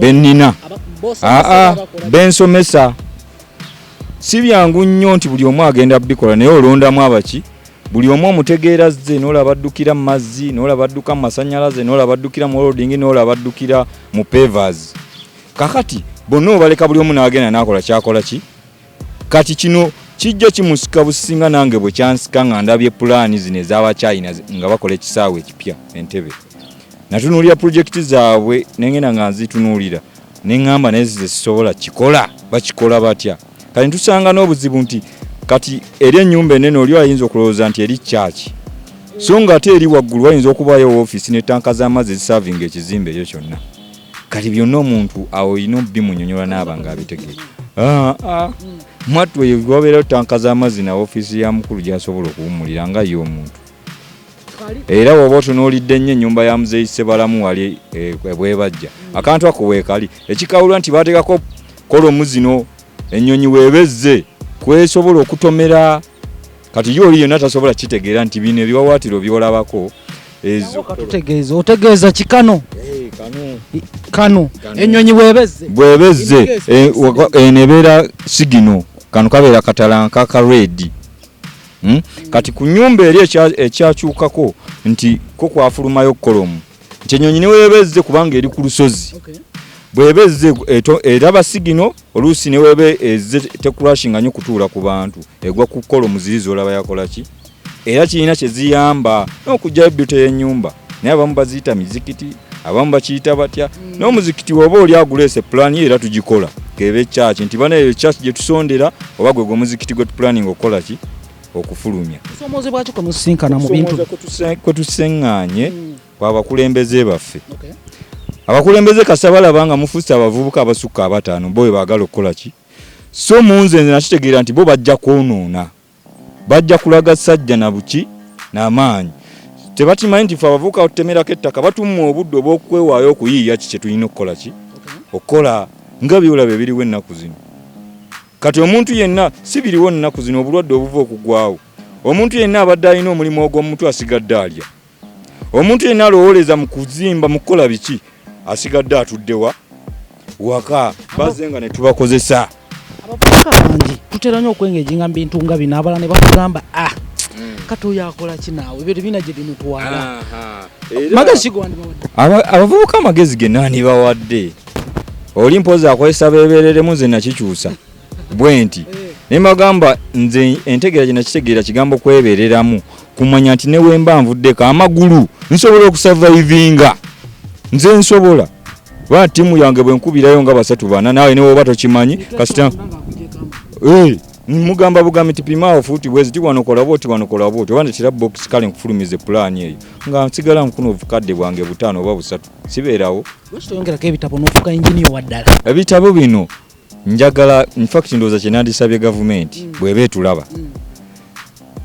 benina ah, ah, bensomesa si byangu nnyo nti buli omu agenda bikola naye olondamu abaki buli omu omutegeera zze noolaba addukira mu mazzi noolaba adduka mu masanyalaze noolaba addukira mu olodingi noolaba addukira mu pevers kakati bonna obaleka buli omu n'agenda n'akola kyakola ki kati kino kijja kimusika businga nange bwe kyansika nga ndabye pulaani zino ez'abachina nga bakola ekisaawe ekipya entebe natunuulira pulojekiti zaabwe nengenda nga nzitunuulira neŋŋamba naye zize zisobola kikola bakikola batya kati ntusanga n'obuzibu nti kati eri ennyumba enene oli ayinza okulowooza nti eri kyaki so nga ate eri waggulu wayinza okubaayo ofiisi ne tanka z'amazzi ezisavinga ekizimbe ekyo kyonna kati byonna omuntu awo olina obimunyonyola naaba nga abitegee ah, ah. mwattu eyo wabeerayo tanka z'amazzi na ofiisi ya mukulu gyasobola okuwumulira nga ye omuntu era woba otunuulidde nnyo ennyumba ya muzeeyi ssebalamu wali eh, ebwebajja akantu ako weekali ekikawulwa nti baateekako kolomu zino ennyonyi weebezze kwesobola okutomera kati yo oli yonna tasobola kitegeera nti bino ebiwawaatiro byolabako ezo katutegeeza otegeeza kikano eh, kano ennyonyi bwebezze bwebezze eh, eno ebeera sigino kano kabeera katalanka ka redi hmm? kati ku nyumba eri ekyakyukako nti ko kwafulumayo kolomu nti enyonyi neweba ezze kubanga eri ku lusozi bweba ezze eraba sigino oluusi neweba ezze tekurashinga nyo kutuula ku bantu egwa kukola omuzirizi olaba yakolaki era kirina kyeziyamba nokugjayo byuto yenyumba naye abamu baziyita mizikiti abamu bakiyita batya mm. n'omuzikiti woba oli aguleese pulaani ye era tugikola kebe kyaki nti bana eyo kyaki gye tusondera oba gwe gwe omuzikiti gwe tupulaninga okukola ki okufulumya kusoomoozebwa ki kwe musisinkana mu bintu kwe tusiŋŋaanye hmm. kwabakulembeze baffe abakulembeze kasita balaba nga mufuuse abavubuka abasukka abataano bo baagala okukola ki so munze nze nakitegeera nti bo bajja kwonoona bajja kulaga sajja na buki n'amaanyi tebatimanyi nti fe abavubuka batutemerako ettaka batumma obudde obw'okwewaayo okuyiiya ki kye tulina okukola ki okukola nga byolaba ebiriwo ennaku zino Kati omuntu yenna si biriwo nnaku zino obulwadde obuva okugwawo. Omuntu yenna abadde alina omulimu ogw'omumutwe asigadde alya. Omuntu yenna alowooleza mu kuzimba mu kukola biki asigadde atudde wa waka bazze nga ne tubakozesa. Abavubuka bangi tutera nnyo okwengejinga mu bintu nga bino abala ne bakugamba a ah, hmm. kati oyo akola ki naawe ebyo tebina gye bimutwala. Abavubuka amagezi ge nani bawadde? oli mpozi akozesa bebereremu nze nakikyusa bwenti eh. naye magamba nze entegeera gyenakitegeera kigambo kwebereramu kumanya nti newemba nvuddeko amagulu nsobola okusavaivinga nze nsobola ba tiimu yange bwenkubirayo nga basatu bana naawe newoba tokimanyi kasita eh, mugamba bugambi ti pimaawo fuuti bwezi ti wanokola bwoti wanokola bwoti oba netira box kale nkufulumize pulaani eyo nga nsigala nkuna obukadde bwange butaano oba busatu sibeerawo lwaki toyongerako ebitabo n'ofuka engineer wa ddala ebitabo bino njagala infact ndowooza kyenandisabye gavumenti mm. bweba etulaba mm.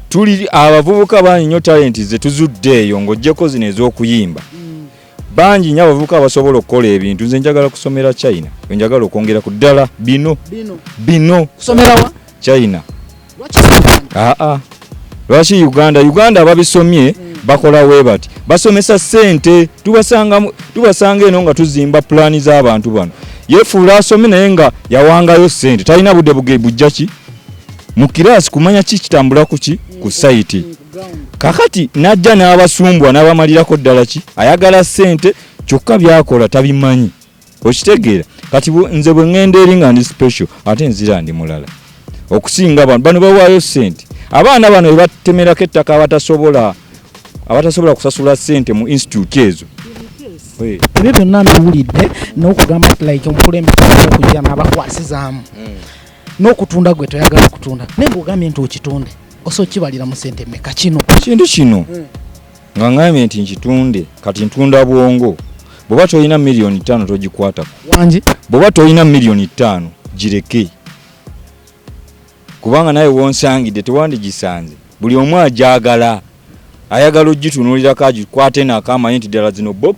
tuli abavubuka bangi nnyo talenti ze tuzudde eyo ng'ogyeko zino ez'okuyimba mm. bangi nyo abavubuka abasobola okukola ebintu nze njagala kusomera china enjagala okwongera ku ddala bino bino china ah, ah. lwaki uganda uganda ababisomye mm. bakola webati basomesa sente tubasanga tubasanga eno nga tuzimba pulani z'abantu bano yefuula asome naye nga yawangayo sente talina budde buge bujja ki mu kiraasi kumanya ki kitambula ku ki ku sayiti kakati n'ajja n'abasumbwa n'abamalirako ddala ki ayagala sente kyokka byakola tabimanyi okitegeera kati nze bwe ŋŋenda eri nga ndi special ate nzira ndi mulala okusinga bano bano bawaayo sente abaana bano ebatemerako ettaka abatasobola abatasobola kusasula sente mu institute ezo ebyo byonna mbiwulidde n'okugamba ti like omukulembeze okujja n'abakwasizaamu hmm. n'okutunda gwe toyagala kutunda naye ngaogambye nti okitunde osa okibalira mu sente meka kino kintu kino hmm. nga ngambye nti nkitunde kati ntunda bwongo bwoba tolina miliyoni ttaano togikwatako wangi bwoba tolina miliyoni ttaano gireke kubanga naye wonsangidde tewandigisanze buli omu ajagala ayagala ogitunulirako agikwate nako amanyi nti ddala zino box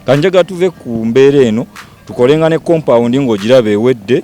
kanjaga tuve ku mbeera eno tukolenga ne compound ng'ogiraba ewedde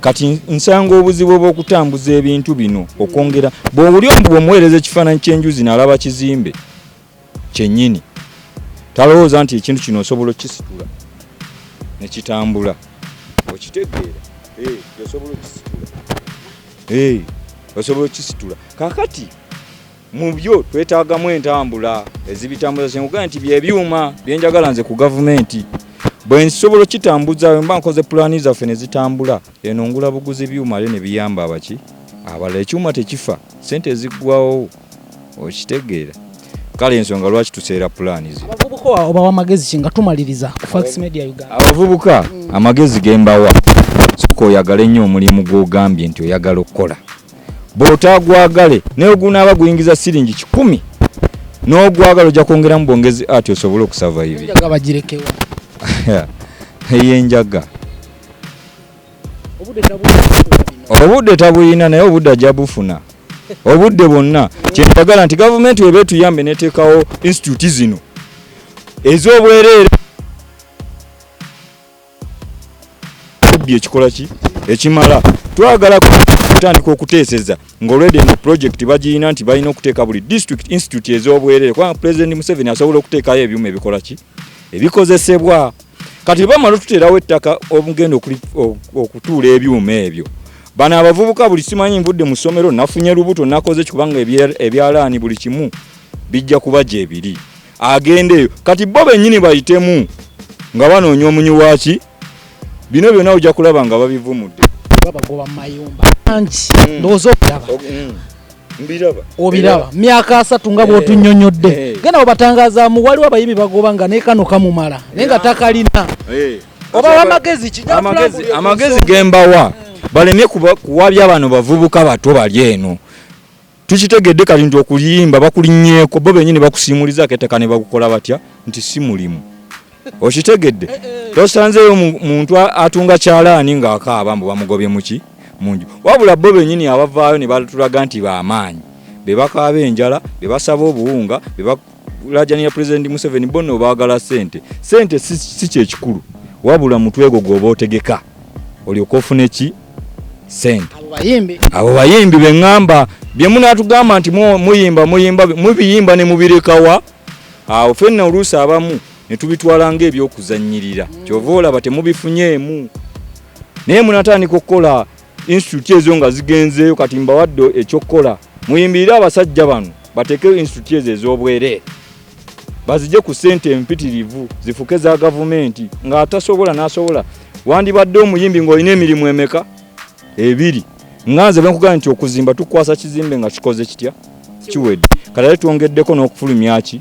kati nsanga obuzibu obwokutambuza ebintu bino okwongera bwowuli omu bwomuweereza ekifaananyi kyenjuzi nalaba kizimbe kyenyini talowooza nti ekintu kino osobola okukisitula nekitambula okitegeera eh, osobola okukisitula eh, osobola okukisitula kakati mu byo twetaagamu entambula ezibitambuza kyenkugaa nti byebyuma byenjagala nze ku gavumenti bwe nsobola okitambuza mba nkoze pulaani zaffe ne zitambula eno ngula buguzi byuma le ne biyamba abaki abala ekyuma tekifa sente eziggwawo okitegeera kale ensonga lwaki tuseera pulaani ze obawa amagezi ki nga tumaliriza fax media uganda abavubuka amagezi gembawa soka oyagale nnyo omulimu gw'ogambye nti oyagala okukola bw'otaagwagale ne bwe gunaaba guyingiza siringi kikumi n'ogwagala ojja kwongeramu bwongezi ati osobole okusavaivi eyenjaga obudde tabuyina naye obudde ajja bufuna obudde bwonna kyentagala nti gavumenti weba etuyambe neteekawo insitituti zino ez'obwereere kubbi ekikola ki ekimala twagala kutandika okuteeseza ng'olwedde eno pulojekiti bagirina nti balina okuteeka buli district institute ez'obwerere kubanga pulezidenti museveni asobola okuteekayo ebyuma ebikola ki ebikozesebwa kati bamala otuteerawo ettaka omugenda okutuula ebyuma ebyo bano abavubuka buli simanyi nvudde mu ssomero nafunye lubuto nakoze kikubanga ebyalaani buli kimu bijja kuba gyebiri agendeyo kati bo benyini bayitemu nga banoonya omunyi waki bino byona ojja kulaba nga babivumudde babagoba mumayumba angi mm. ndowooza okulaba mm. obiraba myaka asatu nga bwotunyonyodde eh, eh. genda webatangazamu waliwo abayimi bagoba nga nekano kamumala naye nga takalina eh. oba amagezi amagezi gembawa balemye kuwabya bano bavubuka bato bali eno Tukitegedde kati nti okuyimba bakulinyeko bo benyini bakusimuliza keteka ne bakukola batya nti si mulimu. Okitegedde? Eh, eh. Tosanzeyo muntu atunga kyalaani nga akaaba mbu bamugobye muki munju. Wabula bo benyini abavaayo ne batulaga nti ba maanyi. Be bakaaba enjala, be basaba obuwunga, be kulajanira pulezidenti museveni bonna obaagala sente sente si kyekikulu wabula mutwego gwoba otegeka olyoka ofune ki sente abo bayimbi beŋŋamba bye munaatugamba nti muyimba muyimba mubiyimba ne mubirekawa awo fenna oluusi abamu ne tubitwala ng'ebyokuzannyirira kyova olaba temubifunyeemu naye munatandika okukola institute ezo nga zigenzeeyo kati mbawadde ekyokukola muyimbirire abasajja bano bateekeyo institute ezo ez'obwereere bazije ku ssente empitirivu zifuke za gavumenti ng'atasobola n'asobola wandibadde omuyimbi ng'olina emirimu emeka ebiri nga nze benkugamba nti okuzimba tukwasa kizimbe nga kikoze kitya kiwedde kati ate twongeddeko n'okufulumyaki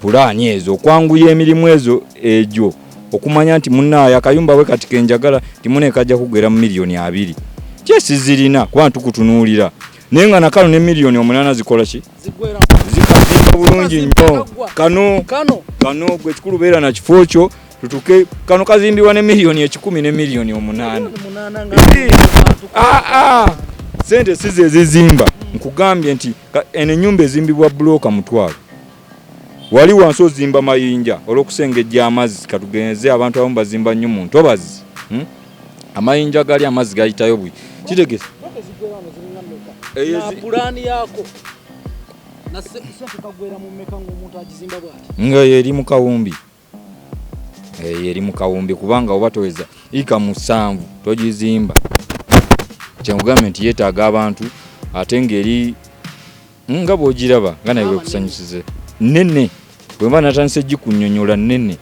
pulaani ezo okwanguya emirimu ezo egyo okumanya nti munaye akayumba we kati kenjagala timunekajja kugera mu miliyoni abiri kyesizirina kuba ntukutunuulira naye nga nakano ne miliyoni omunana zikola ki zikazimba bulungi nnyo kano kano gwe kikulu beera na kifo kyo tutuke kano kazimbibwa ne miliyoni ekikumi ne miliyoni omunaana ah, ah. sente si zezizimba nkugambye nti eno enyumba ezimbibwa bulooka mutwalo wali wansi ozimba mayinja olwokusengejja amazzi katugenze abantu abamu bazimba nnyo mu ntobazi hmm? amayinja gali amazzi gayitayo bwi kitegesa nga yeri mu kawumbi eyo eri mu kawumbi kubanga oba toweza ika musanvu togizimba kyenkugambye nti yeetaaga abantu ate ng'eri mm, nga bw'ogiraba nga naye wekusanyusize nene bwemba natandise gikunyonyola nene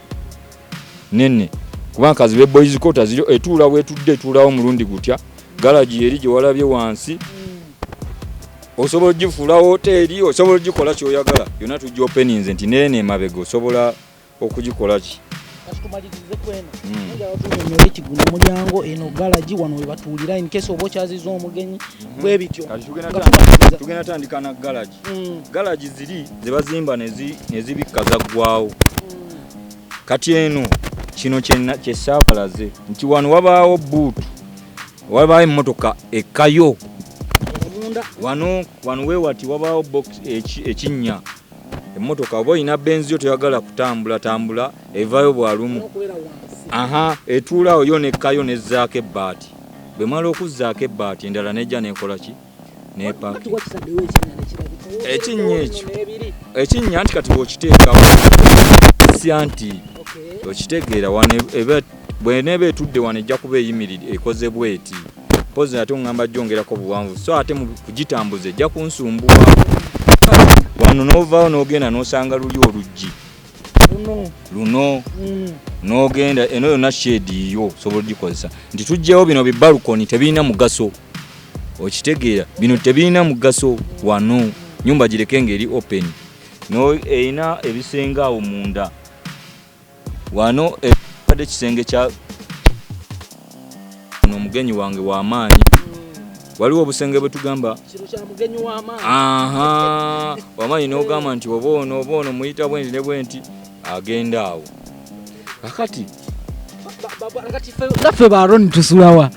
nene kubanga kazibe boys quarter ziri etuula wetudde etuulawo omulundi gutya galagi eri gyewalabye wansi osobola ogifuula woteeri osobola ogikola kyoyagala yona tujja openinze nti neena emabega osobola okugikola ki ekigunda hmm. mulyango eno galagi wano webatuulira inkesi oba okyaziza omugenyi hmm. bwebityo tugenda tandika na galagi hmm. galagi ziri zebazimba nezibikka zaggwawo kati eno kino kyesaabalaze nti wano wabaawo buutu Wabaayo emmotoka ekkayo wano wano wewati wabaawo ekinnya emmotoka oba olina benzi yo toyagala kutambula tambula evaayo bwalumu aha etuulaawo yo nekkayo nezzaako ebbaati bwe mala okuzzaako ebbaati endala nejja nekola ki nepaki ekinnya ekyo ekinnya nti kati bwokiteekawo sya nti okitegeera wano bweneeba etudde wano ejja kuba eyimirire ekoze bweti mpozi ate oŋŋamba gyongerako buwanvu so ate kugitambuza ejja kunsumbuwa wano n'ovaawo n'ogenda n'osanga luli oluggi luno mm. n'ogenda eno yonna sheedi yiyo osobola ogikozesa nti tugyewo bino bibalukoni tebirina mugaso okitegeera bino tebirina mugaso wano nyumba gireke ngeri open erina ebisenge awo munda wano ebadde ekisenge kya no omugenyi wange wamaanyi waliwo obusenge bwetugamba wamaanyi nogamba nti oba ono oba ono muyita bwenti ne bwenti agenda awo kakati naffe ba roni tusulawa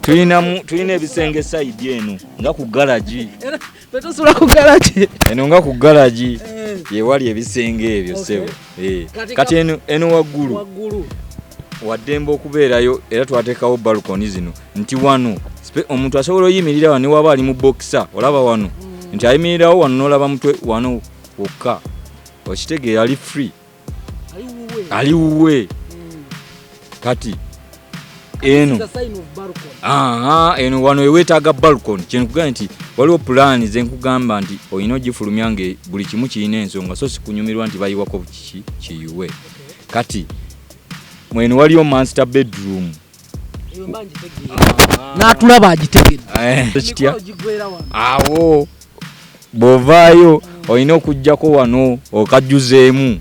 tulina ebisenge saidi eno nga ku galagi tetusula ku galagi eno nga ku galagi eh. yewali ebisenge ebyo sebo eh. kati eno waggulu waddembe okubeerayo era twatekawo balkoni zino nti wano omuntu asobola oyimirira wano newaba ali mu bokisa olaba wano mm. nti ayimirirawo wano nolaba mutwe wano wokka okitege ali free ali wuwe mm. kati eno eno wano ewetaaga balcon kyenkugamba nti waliwo pulaani zenkugamba nti olina ogifulumya nga buli kimu kirina ensonga so sikunyumirwa nti bayiwako kiki kiyuwe kati mwene waliyo master bedroom n'atulaba agitegedde eh. awo bw'ovaayo olina okujjako wano okajjuzeemu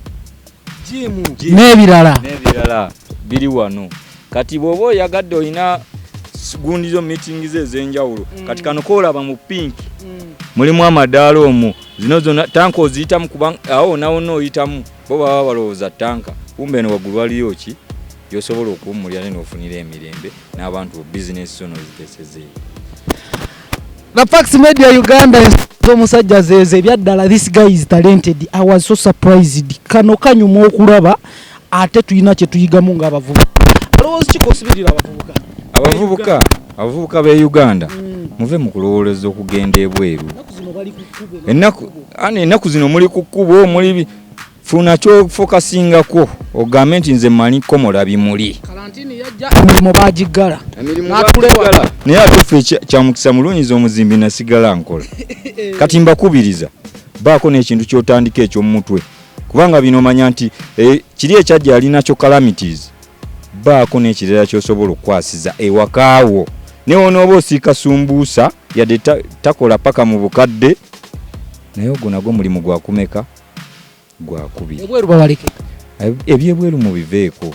n'ebirala n'ebirala biri wano kati bw'oba oyagadde olina gundi zo meeting ze ez'enjawulo mm. kati kano koolaba mu pink mm. mulimu amadaala omwo zino zona tanka oziyitamu kuba awo nawona oyitamu bo baba balowooza tanka kumbe eno waggulu waliyo ki gyosobola okuwummulira ne n'ofunira emirembe n'abantu bo bizinesi zo n'oziteesezeeyo The Fax Media Uganda omusajja zeeze ebyaddala this guy is talented I was so surprised kano kanyuma okulaba ate tulina kye tuyigamu ng'abavubuka alowooza kikosibirira abavubuka abavubuka abavubuka b'e Uganda mm. muve mu kulowoleza okugenda ebweru ennaku Ani ennaku zino muli ku kkubo muli funa kyofokasingako ogambe nti nze manyi komola bimuli emirimu bagiggala naye ate ffe kyamukisa mulunyiza omuzimbi nasigala nkola kati mbakubiriza baako n'ekintu kyotandika ekyomumutwe kubanga bino manya nti eh, kiri ekyajja yalinakyo calamities Baako n'ekirala ky'osobola okukwasiza ewaka wo ne wonooba osiika sumbuusa yadde takola paka mu bukadde naye ogwo nagwo mulimu gwakumeka gwakubiri ebweru bawaleke ebyebweru mubiveeko